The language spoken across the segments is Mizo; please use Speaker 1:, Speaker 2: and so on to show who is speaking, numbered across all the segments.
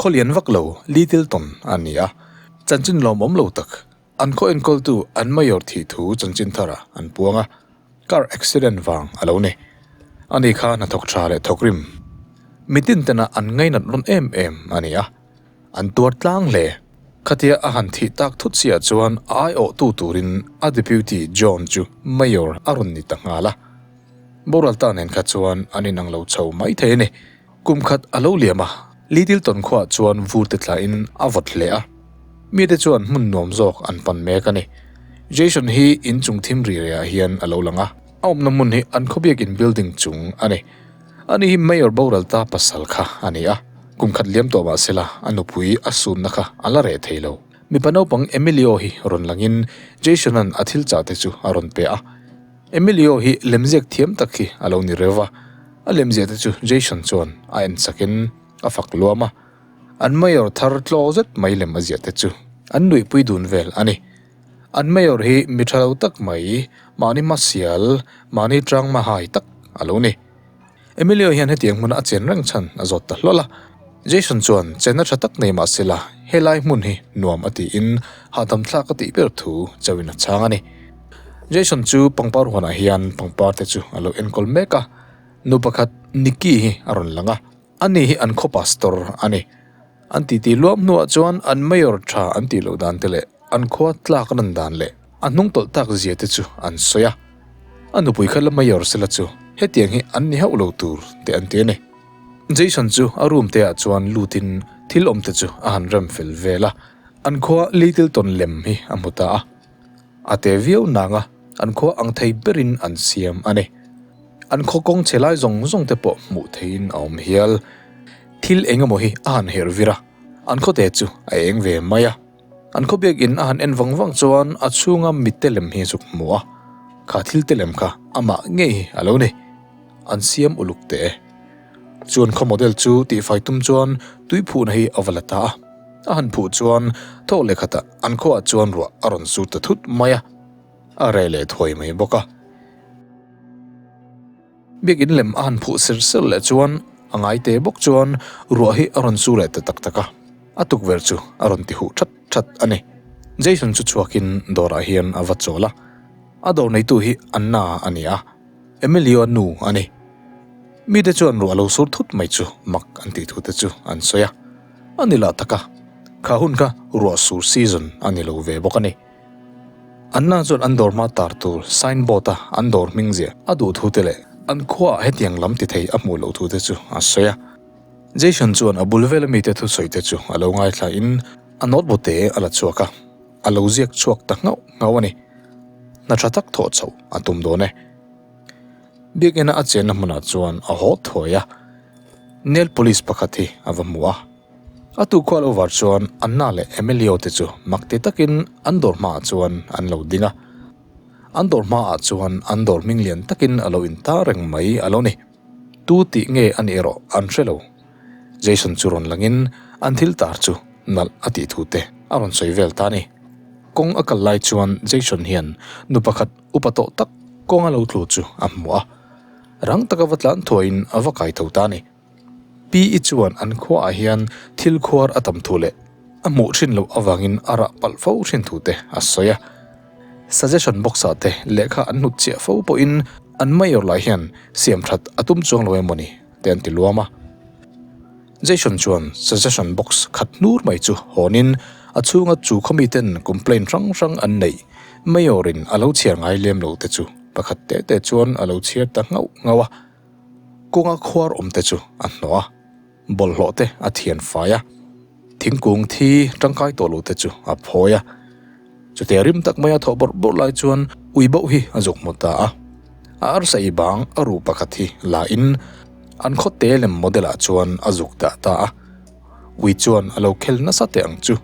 Speaker 1: Khaw lian vak lo, litil tawn a ni a, chanchin lawmawm lo tak. An khaw enkawltu an Mayor thih thu chanchin tharah an puang a, car accident vang a lo ni. Ani kha hnathawk tha leh thawkrim mitin tena an ngainat lawn em em a ni a. An tuar tlang hle. Khatia a han thih tak thut chiah chuan a aiawhtu turin a Deputy John chu Mayor a rawn ni ta nghal a. Boral ta nen kha chuan an inang lo chho mai thei a ni. Kum khat a lo liam a, Little Tonkhua chuan vurte thlahin a vawt hle a. Mite chuan hmun nuam zawk an pan mek a ni. Jason hi in chungthim ri riah ah hian a lo lang a, a awmna hmun hi an khawbiakin building chung a ni. A nih hi Mayor boral ta pasal kha a ni a, kum khat liam tawh mah sela a nupui a sunna kha a la reh thei lo. Mipa naupang Emilio hi rawn langin Jasonan a thil chah te chu a rawn pe a. Emilio hi lemziak thiam tak hi a lo ni reu va, a lemziah te chu Jason chuan a en chakin a fak luam a. An Mayor thar tlaw zet mai lem a ziah te chu an nuihpui dun vel a ni. An mayor hi mi tha lo tak mai, mahni hmasial, mahni tang hmahai tak a lo ni. Emilio hian hetiang hmuna a chen reng chhan a zawt ta hlawl a. Jason chuan chenna tha tak nei mah sela helai hmun hi nuam a tiin hahdamthlak a tih ber thu chauhin a chhang a ni. Jason chu pangpar huanah hian pangparte chu a lo enkawl mek a, nu pakhat Nikki hi a rawn lang a. Ani hi an khaw pastor a ni. An titi luap hnuah chuan an mayor tha an tih loh dan te leh an khua tlak ran dan leh a hnung tawlh tak zia te chu an sawi a. A nupui kha la mayor se la chu hetiang hi an ni hauh lo tur te an ti a ni. Jason chu a room te ah chuan lut in thil awm te chu a han rem fel vel a, an khua litil tawn lem hi a hmu ta a. A te viau nanga an khua ang thei berin an siam a ni. An khaw kawng che lai zawng zawng te pawh hmuh theihin a awm hial. Thil eng emaw hi a han herh vir a, an khaw te chu a eng ve mai a. An khaw biakin a han en vang vang chuan a chhunga mite lem hi zuk hmu a, kha thil te lem kha amah ngei hi a lo ni. An siam uluk teh e. Chu an khaw model chu tihfai tum chuan tui phuhna hi a va la ta a. A han phuh chuan thawhlehkhatah An khuaah chuan ruah a rawn su ta thut mai a, a reh leh thuai mai bawk a. Biakin lem a han phuh ser ser leh chuan a ngaite bawk chuan ruah hi a rawn su leh ta tak tak a, a tukverh chu a rawn ti huh that that a ni. Jason chu chhuakin dawrah hian a va chawl a, a dawr neitu hi Anna a ni a, Emilio-a nu a ni. Mite chuan ruah lo sur thut mai chu mak an tih thu te chu an sawi a. A ni lah taka, kha hun kha ruah sur season a ni lo ve bawk a ni. Anna chuan an dawr hma tar tur sign board a an dawr hming zia a duh thu te leh an khuaah hetiang lam ti thei a hmuh loh thu te chu a sawi a. Jason chuan a bul vela mite thusawi te chu a lo ngaithla in a notebook te a la chhuak a, a lo ziak chhuak ta nghauh nghauh a ni. Hna tha tak thawh chhoh a tum dawn e. Biakina a chenna hmunah chuan a haw thuai a, nail polish pakhat hi a va hmu a. A tukhual over chuan Anna leh Emilio te chu mak ti takin an dawr hmaah chuan an lo ding a. An dawr hmaah chuan an dawr hming lian takin a lo in tar reng mai a lo ni. Tu tih nge a nih erawh an hre lo. Jason chu rawn langin an thil tar chu nalh a tih thu te a rawn sawi vel ta a ni. Kawng a kal lai chuan Jason hian nu pakhat. upa tawh tak kawnga lo tlu chu a hmu a, rang taka va tlan thuaihin a va kai tho ta ni. Pi i chuan an khuaah hian thil khuar a tam thu leh a hmuh thin loh avangin a rah palh fo thin thu te a sawi a. Suggestion box ah te lehkha an hnut chiah fo pawhin an Mayor lah hian siam that a tum chuang lo emaw ni te an ti luam a. Jason chuan suggestion box khat hnur mai chu hawn in a chhunga chu khaw miten complaint hrang hrang an neih Mayor in a lo chhiar ngai lem lo te chu pakhat te te chuan a lo chhiar ta nghauh nghauh a, kawnga khuar awm te chu a hnawh a, bawlhhlawh te a thian fai a, thingkung thi tangkai tawh lo te chu a phawi a. Chutia rim tak maia thaw bawrh bawrh lai chuan Uibo hi a zuk hmu ta a. A arsa i bang a ru pakhat hi la in an khaw te lem model ah chuan a zuk dah ta a. Ui chuan a lo khel nasa teh ang chu.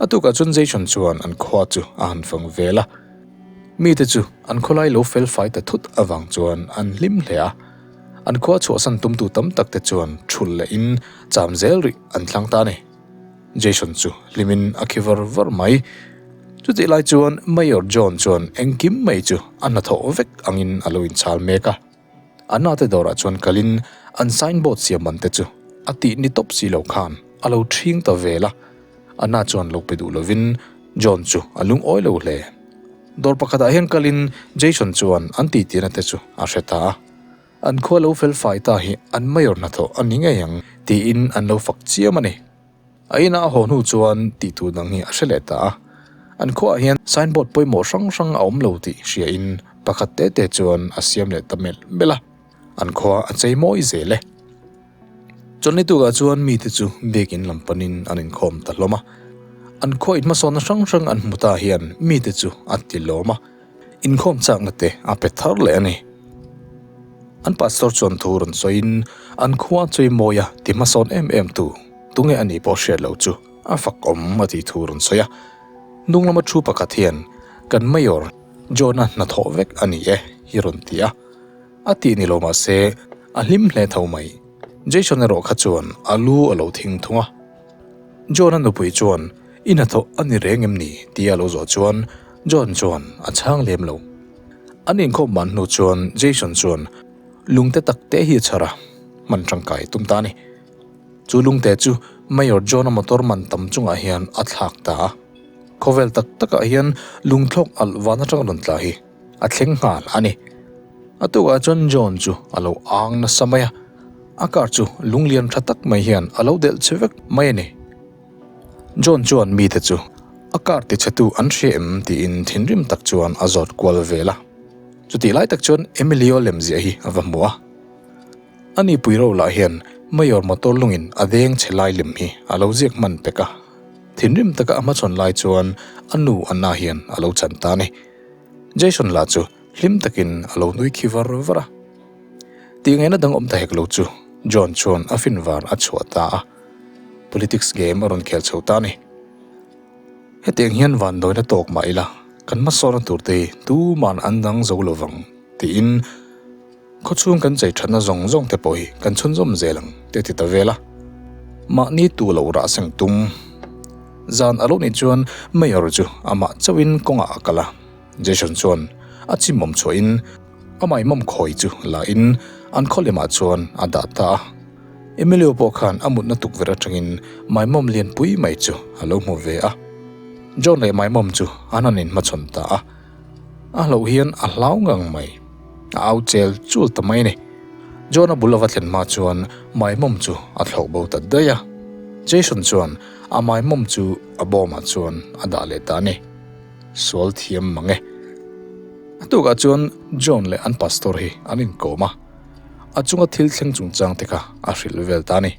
Speaker 1: A tukah chuan Jason chuan an khua chu a han fang vel a. Mite chu an khawlai lo fel fai ta thut avang chuan an hlim hle a. An khua chhuahsan tumtu tam tak te chuan thul leh in cham zel rih an thlang ta a ni. Jason chu hlimin a khi var var mai. Chutihlai chuan Mayor John chuan engkim mai chu a hna thawh vek angin a lo inchhal mek a. A nate dawrah chuan kalin an signboard siam ban te chu a tih ni tawp si lo khan a lo thing ta vel a. A hna chuan lo pe duh lovin John chu a lungawi lo hle. Dawr pakhatah hian kalin Jason chuan an titihna te chu a hre ta a. An khua lo fel fai ta hi an mayor hna tawh a ni ngei ang tiin an lo fak chiam a ni. A inah a haw hnu chuan tih tur dang hi a hre leh ta a, an khuaah hian sign board pawimawh hrang hrang a awm lo tih hria in pakhat tete chuan a siam leh ta melh melh a, an khua a chei mawi zel e. Chuan ni tukah chuan mite chu biakin lam panin an inkhawm ta hlawm a, an khaw inhmasawhna hrang hrang an hmu ta hian mite chu an ti lawm a, inkhawm chakna te a pe thar leh a ni. An pastor chuan thu rawn sawiin, An khua chei mawi a, ti hmasawn em em tu, tunge a nih pawh hriat loh chu a fak awm a tih thu rawn sawi a. Hnunglama thu pakhat hian, Kan Mayor John-a hnathawh vek a ni e, hi rawn ti a. A tih ni lo mahse, a hlim hle tho mai. Jason erawh kha chuan a lu a lo thing thung a. John-a nupui chuan, I hnathawh a ni reng em ni? tih a lo zawh chuan John chuan a chhang lem lo. An inkhawm man hnu chuan Jason chuan, Lungte tak te hi a chhar a, hman tangkai tum ta a ni. Chu lungte chu Mayor John-a motor man tam chungah hian a thlak ta a. Khawvel tak takah hian lungthlawk alh vân aṭang a rawn tla hi. A thleng nghal a ni. A tukah chuan John chu a lo âng nasa mai a, a car chu lung lian ṭha tak mai hian a lo delh che vek mai a ni. John chuan mite chu a car tichhetu an hria em tiin thinrim tak chuan a zawt kual vel a. Chutih lai tak chuan Emilio lemziah hi a va hmu a. A ni puiro lah hian Mayor motor lungin a deng che lai lem hi a lo ziak hman pek a. Thinrim taka a hmachhawn lai chuan a nu Anna hian a lo chan ta a ni. Jason lah chu hlim takin a lo nui khi var var a. Tih ngaihna dang awm ta hek lo chu John chuan a fin var a chhuah ta a. Politics game a rawn khel chho ta a ni. Hetiang hian vannawina tawk mah ila kan hmasawnna tur te hi tuman an dang zo lovang tiin. Khawchhung kan chei thatna zawng zawng te pawh hi kan chhunzawm zel ang tih a ti ta vel a, mahni tu lo rah seng tum. Zan a lo nih chuan Mayor chu amah chauhin kawngah a kal a, Jason chuan a chimmawm chhuahin amah i mawm khawi chu lahin an khaw lemah chuan a dah ta a. Emilio pawh khan a mutna tukverh atangin Maimawm lianpui mai chu a lo hmu ve a. John leh Maimawm chu an han inhmachhawn ta a. A hlo hian a hlau ngang mai. A au chel chul ta mai ni. John-a bul a va thlen hma chuan Maimom chu a thlo bo ta daih a. Jason chuan a Maimom chu a bawmah chuan a dah leh ta a ni. Sual thiam mang e. A tukah chuan John leh an Pastor hi an inkawm a. A chunga thil thleng chungchang te kha a hrilh vel ta a ni.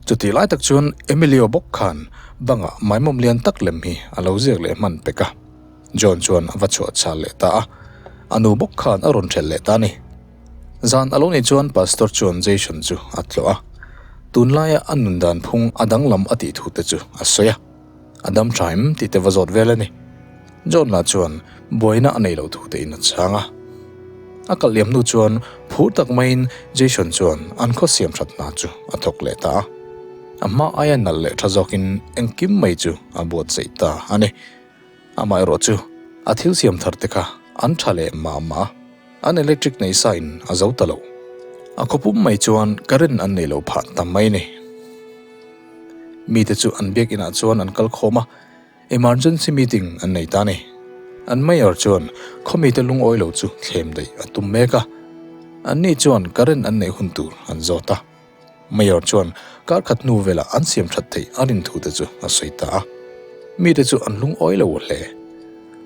Speaker 1: Chutih lai tak chuan Emilio bawk khan bangah Maimom lian tak lem hi a lo ziak leh hman pek a. John chuan a va chhuah chhal leh ta a, a nu bawk khan a rawn hrelh leh ta ni. Zan a lo nih chuan Pastor chuan Jason chu a tlawh a, tunlaia a nun dan phung a danglam a tih thu te chu a sawi a, a dam tha em tih te va zawt vel a ni. John lah chuan buaina a nei lo thu te in a chhang a. A kal liam hnu chuan phur tak maiin Jason chuan an khaw siamthat hna chu a thawk leh ta a, a hma aia nalh leh tha zawkin engkim mai chu a buatsaih ta a ni. Amaherawh chu, a thil siam thar te kha an tha leh mah mah a, an electric nei sa in a zo ta lo. A khaw pum mai chuan current an nei lo phah ta mai ni. Mite chu an biakin ah chuan an kal khawm a, emergency meeting an nei ta ni. An mayor chuan khaw mite lungawi lo chu thlem daih a tum mek a, anni chuan current an nei hun tur an zawt a. Mayor chuan karkhat hnu vela an siam that theih a rin thu te chu a sawi ta a, mite chu an lungawi lo hle.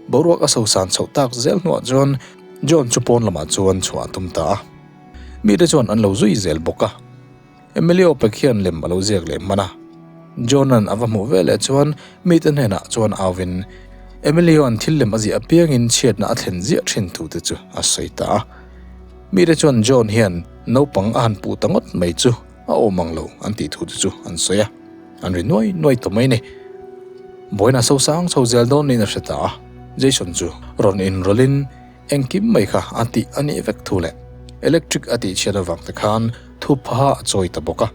Speaker 1: Boruak a sosan chhoh tak zel hnuah chuan John chu pawn lamah chuan chhuah a tum ta a, mite chuan an lo zui zel bawk a. Emily Opek hian lem a lo ziak leh hman a, John-a'n a va hmuh ve leh chuan mite hnenah chuan auin Emily-a'n thil lem a ziah apiangin chhiatna a thlen ziah thin thu te chu a sawi ta a. Mite chuan John hian. Naupang a han puh ta ngawt mai chu a awm ang lo an tih thu te chu an sawi a, an ri nuai nuai ta mai ni. Buaina sosang chho zel dawn niin a hre ta a, Jason chu rawn inrawlhin, Engkim mai kha a tih a nih vek thu leh electric a tihchhiat avang te khan thu phaha a chawi ta bawk a.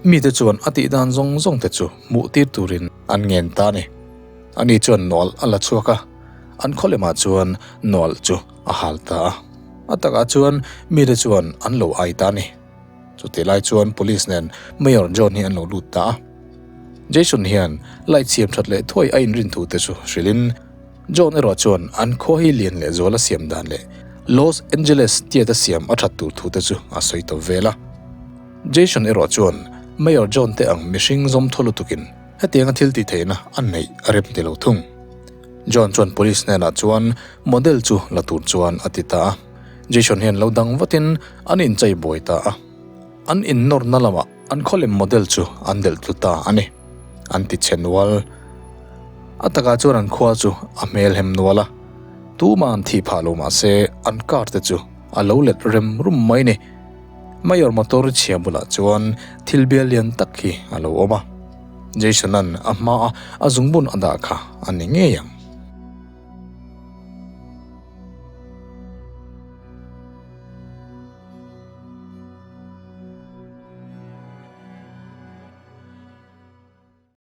Speaker 1: Mite chuan a tih dan zawng zawng te chu hmuh tir turin an ngen ta a ni. Ani chuan Noel a la chhuak a, an khaw lemah chuan Noel chu a hal ta a. A takah chuan mite chuan an lo ai ta a ni. Chutih lai chuan police nen Mayor John hi an lo lut ta a. Jason hian light siam that leh thuai a inrin thu te chu hrilhin John erawh chuan an khua hi lian leh zuala siam dan leh Los Angeles theatre siam a that tur thu te chu a sawi tawp vel a. Jason erawh chuan Mayor John te ang mihring zawmthaw lutukin hetianga thiltihtheihna a neih a rep ni lo thung. John chuan police hnenah chuan model chu la tur chuan a ti ta a. Jason hian lo dang vatin an inchei buai ta a. An in nawrna lamah an khaw lem model chu an delh tlu ta a ni, an ti chhe nual. A takah chuan an khua chu a hmelhem nual a. Tuma an thih phah lo mah se an car te chu a lo let rem rum mai ni. Mayor motor chhia bulah chuan thil bial lian tak hi a lo awm a. Jason-a'n a hma a, a zungbun a dah kha a ni ngei ang.